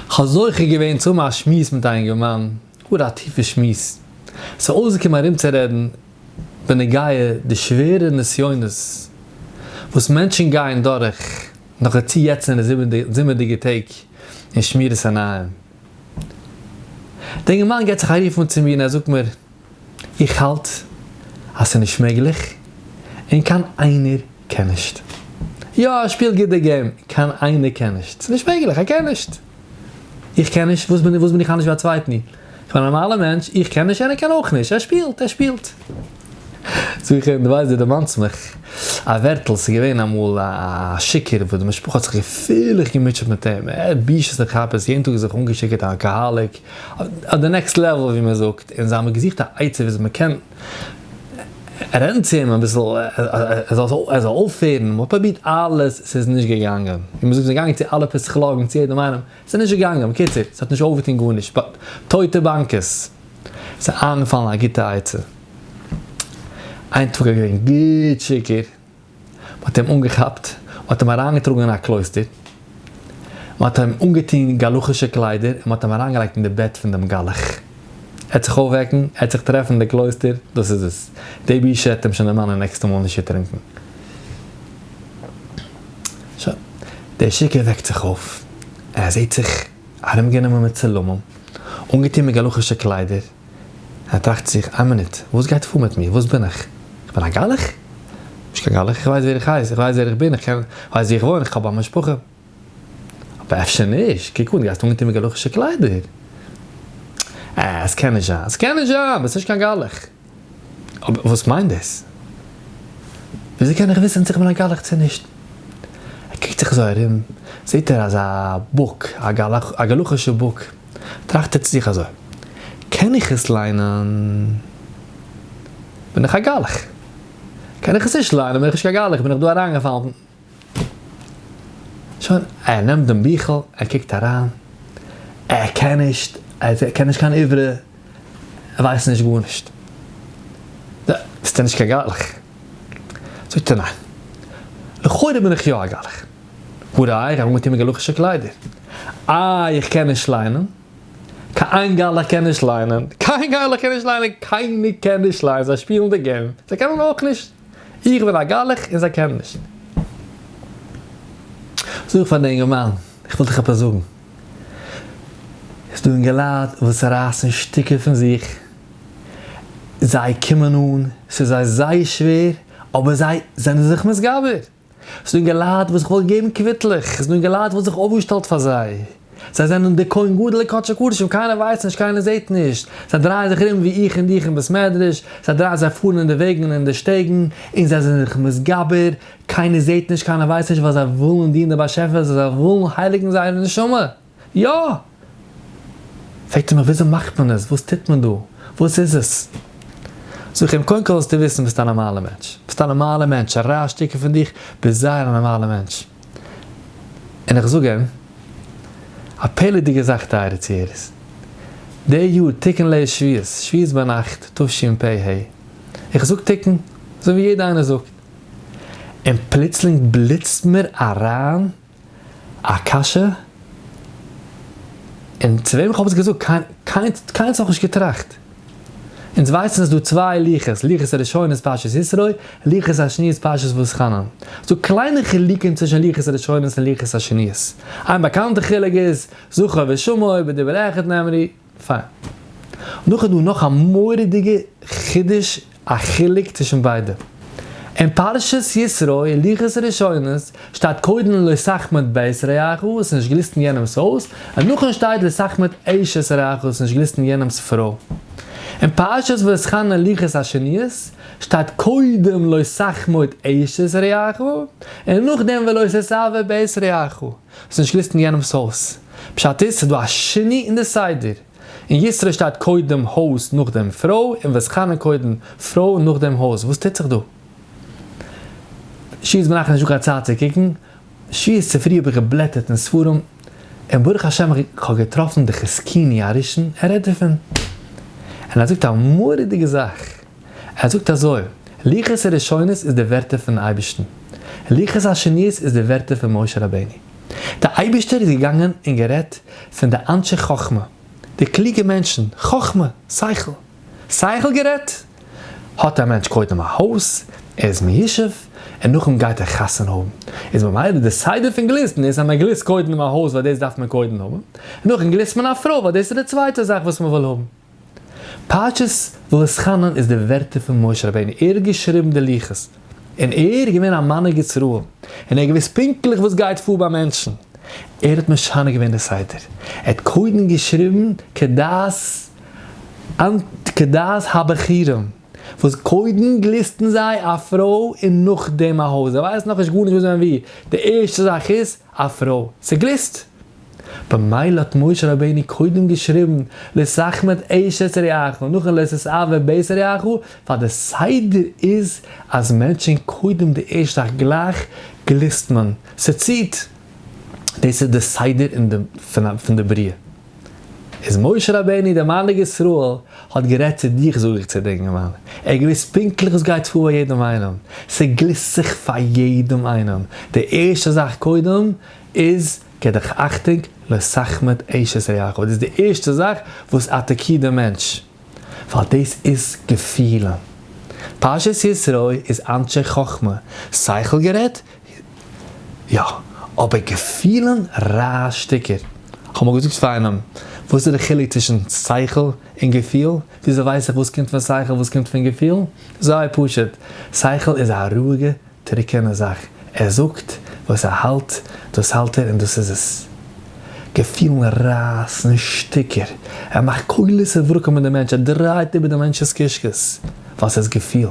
כ'האב זוכה געווען צו האבן א שמועס מיט א אינגערמאן, גאר א טיפע שמועס. ס'איז אויסגעקומען ארומצורעדן בנוגע די שווערע נסיונות וואס מענטשן גייען דורך נאך די צו יעצענע זומערדיגע טעג אין שמירת עיניים. די אינגערמאן געט זיך א רוף אן צו מיר און ער זאגט מיר, איך האלט אז ס'איז נישט מעגליך און קיין איינער קען נישט. יא, ער שפילט גוט די געים, קיין איינער קען נישט. ס'איז נישט מעגליך, ער קען נישט. איך קען נישט, וואס בין איך אנדערש ווי א צווייטן? איך בין א נארמאלער מענטש, איך קען נישט און ער קען אויך נישט. ער שפילט, ער שפילט. זאג איך אים, דו ווייסט, דו דערמאנסט מיך א ווערטל, ס'איז געווען אמאל א שיכור וואס די משפחה האט זיך געפירליך געמוטשעט מיט אים, ער האט בושות און כאפעס, יעדן טאג זיך אנגעשיקערט א אלקאהאליק, אט די נעקסט לעוועל ווי מען זאגט, און זיי האבן געזוכט א עצה וויאזוי מען קען רעדן צו אים אביסל ער זאל אויפהערן, מען האט פרובירט אלעס, ס'איז נישט געגאנגען, ווי מען זאגט מ'איז געגאנגען צו אלע פסיכלאגן צו יעדעם איינעם, ס'איז נישט געגאנגען, בקיצור ס'האט נישט אויפגעטון גארנישט, באט טויטע באנקעס, ס'איז איינגעפאלן א גוטע עצה, איין טאג איז געווען גוט שיכור. מען האט אים אנגעכאפט, מען האט אים אריינגעטראגן אין א קלויסטער, מען האט אים אנגעטון גלח'ישע קליידער און מען האט אים אריינגעלייגט אין די בעט פון דעם גלח. ער וועט זיך אויפוועקן, ער וועט זיך טרעפן אין די קלויסטער, דאס איז עס. די בושה וועט אים שוין די מאמע נעקסטע מאל נישט ערטרונקן. שוין, דער שיכור וועקט זיך אויף, ער זעט זיך ארומגענומען מיט צלמים, אנגעטון מיט גלח'ישע קליידער, ער טראכט זיך, איין מינוט, וואס גייט פאר מיט מיר? וואס בין איך? איך בין א גלח? נישט קיין גלח, איך ווייס ווער איך הייס, איך ווייס ווער איך בין, איך קען, איך ווייס ווי איך וואוין, איך האב א משפחה. אבער אפשר נישט, קוק אן, דו גייסט אנגעטון מיט גלח'ישע קליידער. אה, עס קען נישט זיין, עס קען נישט זיין, ביסט נישט קיין גלח. אבער וואס מיינט דאס? וויאזוי קען איך וויסן צו איך בין א גלח צו נישט? ער קוקט זיך אזוי ארום, זעט ער אזא בוק, א גלח, א גלח'ישע בוק. טראכט ער צו זיך אזוי, קען איך עס ליינען בין איך א גלח, קען איך עס נישט ליינען בין איך נישט קיין גלח, איך בין דאך דא אריינגעפאלן. שוין, ער נעמט דעם ביכל, ער קוקט אריין, ער קען נישט, ער קען נישט קיין עברי, ער ווייסט נישט גארנישט. ביסט נישט קיין גלח? זאגט ער, ניין, לכאורה בין איך יא א גלח. וואו ר' אייער האט אנגעטון מעגאלאכישע קליידער. אה איך קען נישט ליינען. קיין געלע קען נישט ליינען. קיין געלע קען נישט ליינען. קיינער קען נישט ליינען. זיי שפילן די געים. זיי קענען אויך נישט. איך בין א געלע און זיי קענען נישט. זאג איך פאר די אינגערמאן. איך וויל דיך עפעס זאגן. עס איז דא אינגעלייט וואס רייסן שטיקער פון זיך. זיי קומען אן. ס'איז זיי זייער שווער. אבער זיי זענען זיך מתגבר. ס'איז דא געלייט וואס איך וואלט געגעבן קוויטלעך, ס'איז דא געלייט וואלט זיך אויפגעשטעלט פאר זיי, זיי זענען די כהן גדול לקדשי קדשים, קיינער ווייסט נישט קיינער זעהט נישט, זיי דרייען זיך ארום ווי איך און דיך אין בית מדרש, זיי דרייען זיי פארן אין די וועגן און אין די שטעגן, און זיי זענען זיך מתגבר, קיינער זעהט נישט קיינער ווייסט נישט ווייל זיי ווילן דינען די באשעפער, זיי ווילן הייליגן זייערע נשמה. יא! פרעגט ער מיך וויאזוי מאכט מען עס? וואס טוט מען דא? וואס איז עס? זאג איך אים קודם כל זאלסטו וויסן ביסט א נארמאלע מענטש, ביסט א נארמאלע מענטש, א רייז שטיקל פון דיך, ביסט זייער א נארמאלע מענטש. און איך זאג אים א פעלערדיגע זאך טייערע צוהערערס, די יאר תקנ ל איז שביעית, שביעית ביינאכט תשפ ה, איך זאג תקנ ל ווי יעדער איינער זאגט, און פלוצלינג בליצט מיר אריין, א קשיא, און צו וועם איך האב עס געזאגט, קיין קיין קיינס נאכנישט געטראכט. אונז ווייסן ס'איז דא צוויי לוחות, לוחות הראשון איז פרשת ישרוי, לוחות השני איז פרשת ואתחנן. ס'איז דא קליינע חילוקים צווישן לוחות הראשון און לוחות השנית. איין באקאנטע חילוק איז, זכור ושמור בדבר אחד נאמרי. פיין. דאך איז דא נאך א מורא'דיגע חידוש א חילוק צווישן ביידע. אין פרשת יתרו הלכות ראשונות שטייט קודם לא שחמט בית רעך האסט נישט גליסטן יענעמס הויז, און נאכן שטייט לא שחמט אשת רעך האסט נישט גליסטן יענעמס פרוי. אין פרשת ואסכנא הלכות השניות שטייט קודם לא שחמט אשת רעך און נאכדעם ולא ששבר בית רעך. ס'איז נישט געליסטן יענעמ'ס הויז. פשט איז ס'דא א שיני אין די סדר. אין ישרא שטייט קודם הויז נאכדעם פרוי און וואס חנה קודם פרוי נאכדעם הויז וואס טוט זיך דא? שי איז מנחם נישט דא קיין צייט צו קוקן. שי איז צופרי האב איך געבלעטערט אין ספרים און ברוך השם איך האב געטראפן די חזקיני הראשון ער רעדט דערפון און ער זאגט א מורא'דיגע זאך. ער זאגט אזוי, לוחות הראשונות איז די ווערטער פונעם אייבערשטן, לוחות השניות איז די ווערטער פון משה רבינו. דער אייבערשטער איז געגאנגען און גערעדט פון די אנשי חכמה, די קלוגע מענטשן, חכמה, שכל. שכל גערעדט? האט א מענטש קודם א הויז, ער איז מישב, און נאכדעם גייט ער חתונה האבן. איז ממילא די סדר פון גליסטן איז אז מען גליסט קודם א הויז ווייל דאס דארף מען קודם האבן, נאכדעם גליסט מען א פרוי ווייל דאס איז די צווייטע זאך וואס מען וויל האבן. פרשת ואסכנן איז די ווערטער פון משה רבינו, ער האט געשריבן די לוחות, און ער איז געווען א מנהיג ישראל, און ער האט געוואוסט פונקטליך וואס גייט פאר ביי מענטשן, ער האט משנה געווען די סדר, ער האט קודם געשריבן כדת כדת הבכירים, וואס קודם גליסטן זיי א פרוי און נאכדעם א הויז, זיי ווייסן נאכנישט גארנישט וואס ווען ווי, די ערשטע זאך איז. א פרוי, ס'גליסט! במילא האט משה רבינו קודם געשריבן לשחם את אשת רעיך נאכן לשסעו את בית רעיך, ווייל די סדר איז אז מענטשן קודם די ערשט זאך גלייך גליסט מען, ס'ציט! דאס איז די סדר פון די בריאה. איז משה רבינו דער מנהיג ישראל האט גערעדט צו דיך זאג איך צו דיר אינגערמאן, ער האט געוויסט פונקטליך וואס גייט פאר ביי יעדעם איינעם, ס'גליסט זיך פאר יעדעם איינעם, די ערשטע זאך קודם איז געב דיך אכטונג לא סחמת אשת רעיך, דאס איז די ערשטע זאך וואס אטאקירט דעם מענטש, ווייל דאס איז געפילען, פרשת ישרוי איז אנשי חכמה, שכל גערעדט, יא, אבער געפילן? ר' שטיקער, כ'האב אמאל געזאגט פאר איינעם, וואס איז די חילוק צווישן שכל און געפיל? וויאזוי ווייס איך וואס קומט פון שכל וואס קומט פון געפיל? זייער פשוט, שכל איז א רואיגע טרוקענע זאך, ער זאגט וואס ער האלט, דאס האלט ער און דאס איז עס. געפילן רייסן שטיקער, ער מאכט קולות און ווארקן מיט די מענטש, ער דרייט איבער די מענטש'ס קישקעס, ווייל ס'איז געפיל.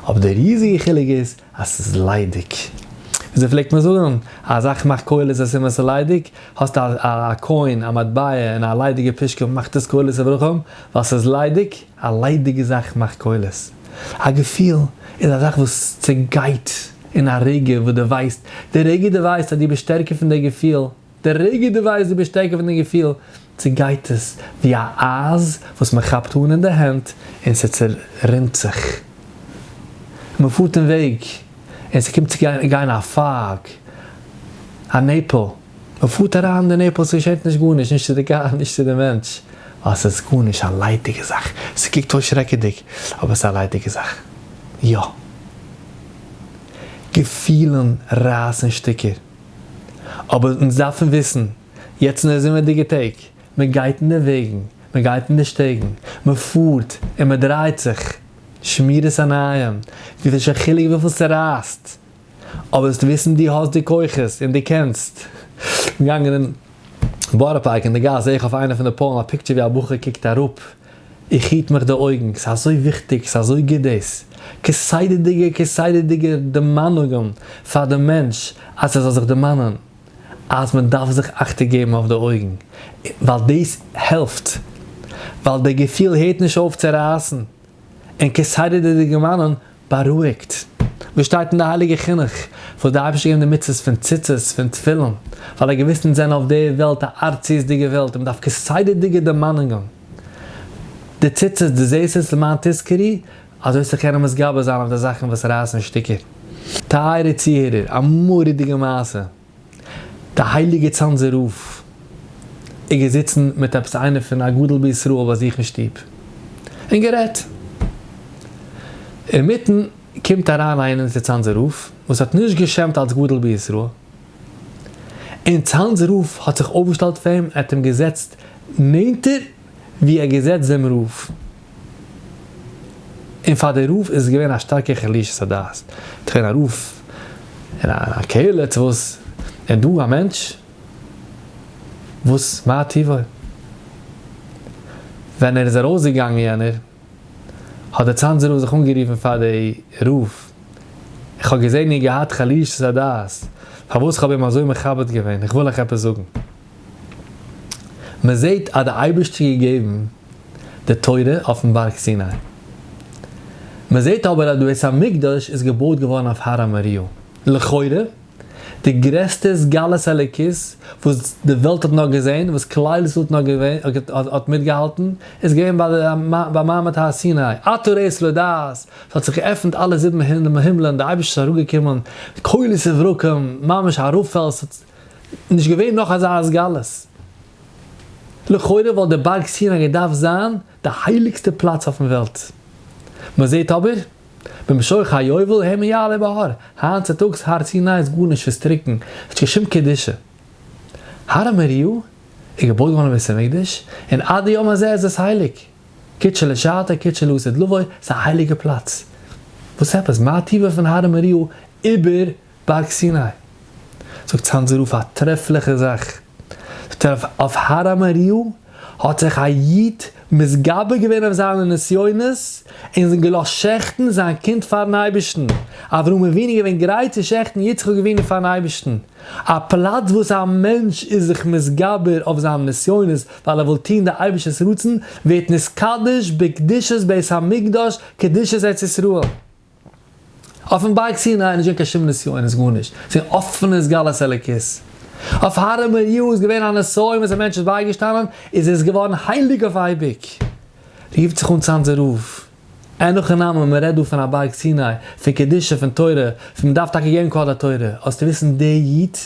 אבער די ריזיגע חילוק איז, אז ס'איז ליידיג. וויאזוי פלעגט מען זאגן? א זאך מאכט קולות און סימן ס'איז ליידיג. האסט א א קוין, א מטבע, און א ליידיגע פושקע, מאכט עס קולות און ברוך ה', ווייל ס'איז ליידיג. א ליידיגע זאך מאכט קולות. א געפיל איז א זאך וואס צעגייט אין א רגע וואס דו ווייסט. די רגע דו ווייסט אז דו ביסט שטערקער פון די געפיל. די רגע דו ווייסט דו ביסט שטערקער פון די געפיל, צעגייט עס ווי א אייז וואס מען כאפט אן אין די הענט און ס'צערינט זיך. מען פארט אין וועג און ס'קומט צו גיין א פייג, א נעפל, מען פארט אריין אין די נעפל, ס'געשעט נישט גארנישט, נישט צו די קאר, נישט צו די מענטש, ווייל ס'איז גארנישט, א ליידיגע זאך, ס'קוקט אויס שרעקעדיג, אבער ס'איז א ליידיגע זאך. יא. געפילן רייסן שטיקער. אבער אונז דארפן וויסן, יעצט אין די זומערדיגע טעג, מען גייט אין די וועגן, מען גייט אין די שטעגן, מען פארט און מען דרייט זיך, שמירת עיניים, ס'איז נישט קיין חילוק וויפיל ס'רייסט, אבער זאלסט וויסן דו האסט די כוחות און דו קענסט. געגאנגען אין בארא פארק אין די גאס זעה איך אויף איינע פון די פאלן א פיקטשער ווי א בחור קוקט אראפ, איך היט מיך די אויגן, ס'איז אזוי וויכטיג, ס'איז אזוי גוט דאס כסדר'דיגע כסדר'דיגע דערמאנונגען פאר די מענטש אז ער זאל זיך דערמאנען אז מען דארף זיך אכטונג געבן אויף די אויגן, ווייל דאס העלפט, ווייל דער געפיל הערט נישט אויף צו רייסן, און כסדר'דיגע דערמאנען. בארואיגט. וואס שטייט אין די הייליגע חינוך? וואס די אייבערשטער געבן די מצוות פון ציצית, פון תפילין, ווייל ער געוויסט אונז זענען אויף די וועלט א ארציות'דיגע וועלט און מ'דארף כסדר'דיגע דערמאנונגען. די ציצית, דו זעסט עס למען תזכרי, אזוי צו קענען מתגבר זיין אויף די זאכן וואס רייסן שטיקער. טייערער צוהערער, א מורא'דיגע מעשה. די הייליגע צאנזער רב איז געזיצן מיט עפעס איינער פון א גדול בישראל ביי זיך אין שטוב און גערעדט, אינמיטן קומט אריין איינער צו צאנזער רב וואס האט נישט גע'שמ'ט אלס גדול בישראל, און צאנזער רב האט זיך אויפגעשטעלט פאר אים און האט אים געזעצט נענטער, ווי ער געזעצט דעם רב, און פאר די רב איז געווען א שטארקע חלישות הדעת, ס'איז געווען א רב אין א קהלה צו וואס, און דא א מענטש וואס מה טיבו, ווען ער איז ארויס געגאנגען יענער, האט דער צאנזער רב זיך אנגערופן פאר די רב, איך האב געזען איר געהאט חלישות הדעת, פארוואס איך האב אים אזוי מכבד געווען, איך וויל אייך עפעס זאגן. מען זעט אז די אייבערשטער האט געגעבן די תורה אויפן בארג סיני, מען זעט אבער אז די בית המקדש איז געבויט געווארן אויף הר המוריה, לכאורה די גרעסטע סגלת האלוקית וואס די וועלט האט נאר געזען, וואס כלל ישראל האט נאר געווען, האט מיטגעהאלטן, איז געווען ביי מעמד הר סיני, אתה ראות לא דעת, ס'האט זיך געעפנט אלע זיבן הימלען, די אייבערשטער איז אראפגעקומען, קולות וברקים, ממש א רב-פעלד, נישט געווען נאך אזא השגלות. לכאורה וואלט די בארג סיני געדארפט זיין די הייליגסטע פלאץ אויפן וועלט. מ'זעהט אבער, במשוך היובל הם יעלה בהר, היינט צוטאגס הר סיני איז גארנישט, ס'איז טרוקן, ס'האט נישט קיין שום קדושה. הר המוריה איז געבויט געווארן אין בית המקדש, און עד היום הזה איז עס הייליג. כד שלשעתא כד שלא עשה דלווי, ס'איז א הייליגע פלאץ. וואס עפעס, מה טיבה פון הר המוריה איבער. בארג סיני, זאגט צאנזער רוף א טרעפליכע זאך, זאגט ער, אויף הר המוריה האט זיך א איד מתגבר געווען אויף זיינע נסיונות און געלאזט שעכטן זיין קינד פארן אייבערשטן, אברהם אבינו איז געווען גרייט צו שעכטן יצחק אבינו פארן אייבערשטן, א פלאץ וואס א מענטש איז זיך מתגבר אויף זיינע נסיונות ווייל ער וויל טון די אייבערשטער'ס רצון, ווערט נתקדש בקדושת בית המקדש קדושת ארץ ישראל. אויפן בארג סיני איז נישט געווען קיין שום נסיונות גארנישט, ס'איז געווען אפענע סגלת אלוקית. אויף הר מוריה איז געווען א נסיון וואס א מענטש איז בייגעשטאנען איז ער איז געווארן הייליג אויף אייביג. רופט זיך אן צאנזער רב, אין נאך א נאמען, מען רעדט דא פון א בארג סיני, פון קדושה, פון תורה, פון מען דארף טאקע געבן כבוד לתורה, האסטו וויסן די איד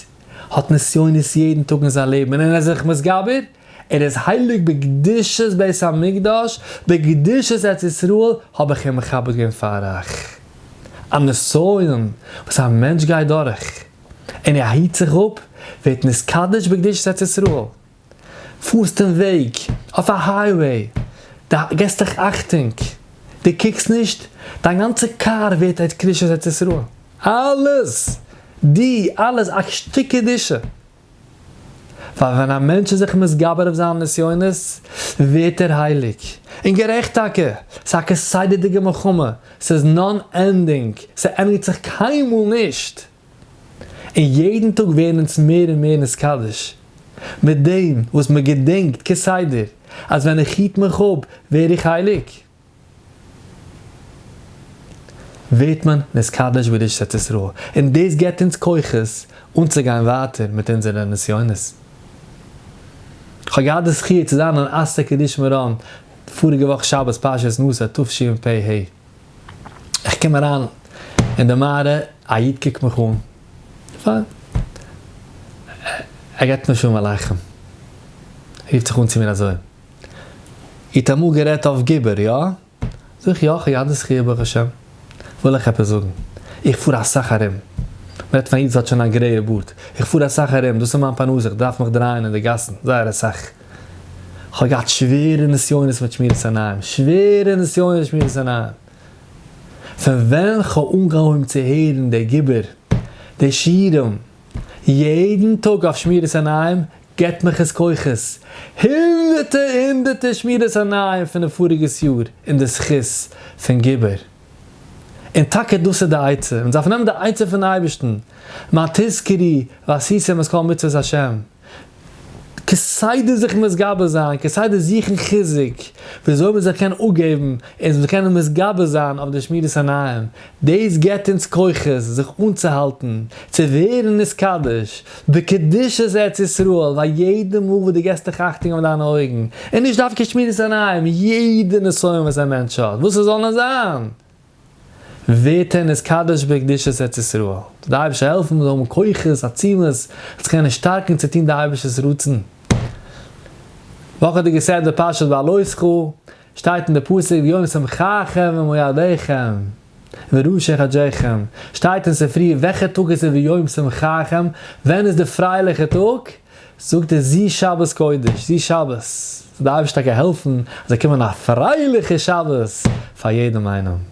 האט נסיונות יעדן טאג אין זיין לעבן און ער איז זיך מתגבר, ער איז הייליג בקדושת בית המקדש, בקדושת ארץ ישראל האב איך אים מכבד געווען פאר אח א נסיון וואס א מענטש גייט דורך און ער היט זיך אפ ווערט נתקדש בקדושת ארץ ישראל, פארסט אין וועג אויף א הייוועי די געסט דיך אכטונג די קוקסט נישט דיין גאנצע קאר ווערט א קדושת ארץ ישראל אלעס די אלעס א שטיק קדושה. ווייל ווען א מענטש איז זיך מתגבר אויף זיינע נסיונות, ווערט ער הייליג. און גערעכט טאקע, ס'איז א כסדר'דיגע מלחמה, ס'איז נאן ענדינג, ס'ענדיגט זיך קיינמאל נישט. און יעדן טאג ווערן אונז מער און מער נתקדש, מיט דעם וואס מ'געדענקט כסדר אז ווען איך היט מיך אפ ווער איך הייליג. ווערט מען נתקדש בקדושת ארץ ישראל, און דאס געבט אונז כוחות אנצוגיין ווייטער מיט אונזערע נסיונות. כ'האב געהאט די זכי' צו זיין אין אסתר קדיש מירון פאריגע וואך שבת פרשת נשא תשפ ה, איך קום אריין אין די מערה, א איד קוקט מיך אן, פיין, ער געבט מיר שלום עליכם, רופט זיך אן צו מיר אזוי. איר האט אמאל גערעדט אויף גובר, יא? זאג איך, יא, כ'האב יא די זכיה ברוך השם. וויל איך עפעס זאגן, איך פאר אסאך ארום. מ'רעדט פון א איד וואס האט שוין א גרעיע בארד. איך פאר אסאך ארום, דאס איז מיין פרנסה, איך דארף מיך דרייען אין די גאסן, זייער אסאך. כ'האב געהאט שווערע נסיונות מיט שמירת עיניים, שווערע נסיונות מיט שמירת עיניים. פון ווען כ'האב אנגעהויבן צו הערן די גובר, די שירים, יעדן טאג אויף שמירת עיניים, געבט מיך עס כוחות, הונדערטער הונדערטער שמירת עיניים פון די פאריגעס יאר אין די זכות פון גיבור. און טאקע דאס איז די עצה, מען דארף נעמען די עצה פון אייבערשטן, מה תזכרי ועשיתם את כל מצוות השם, כסדר זיך מתגבר זיין, כסדר זוכן חיזוק, וויאזוי מען זאל קענען אפגעבן, און מען זאל קענען מתגבר זיין אויף די שמירת עיניים, דאס געבט אונז כוחות זיך אנצוהאלטן צו ווערן נתקדש בקדושת ארץ ישראל ביי יעדע מאל וואס דו געבסט דיך אכטונג אויף דיינע אויגן, און נישט דווקא שמירת עיניים, יעדע נסיון וואס א מענטש האט, וואס עס זאל נאר זיין, ווערט ער נתקדש בקדושת ארץ ישראל. זאל דער אייבערשטער העלפן מיר זאלן האבן כוחות עצומות אונז קענען שטארקן צו טון די אייבערשטער'ס רצון. וואכעדיגע סדר פרשת בלותך, שטייט אין די פסוק ביום שמחכם ומועדיכם וראשי חדשיכם, שטייט אין ספרי וועלכע טאג איז עס ביום שמחכם, ווען איז די פרייליכע טאג, זאגט ער זי שבת קודש, זי שבת, ס'דארף נישט טאקע העלפן אז זאל קומען א פרייליכע שבת פאר יעדעם איינעם.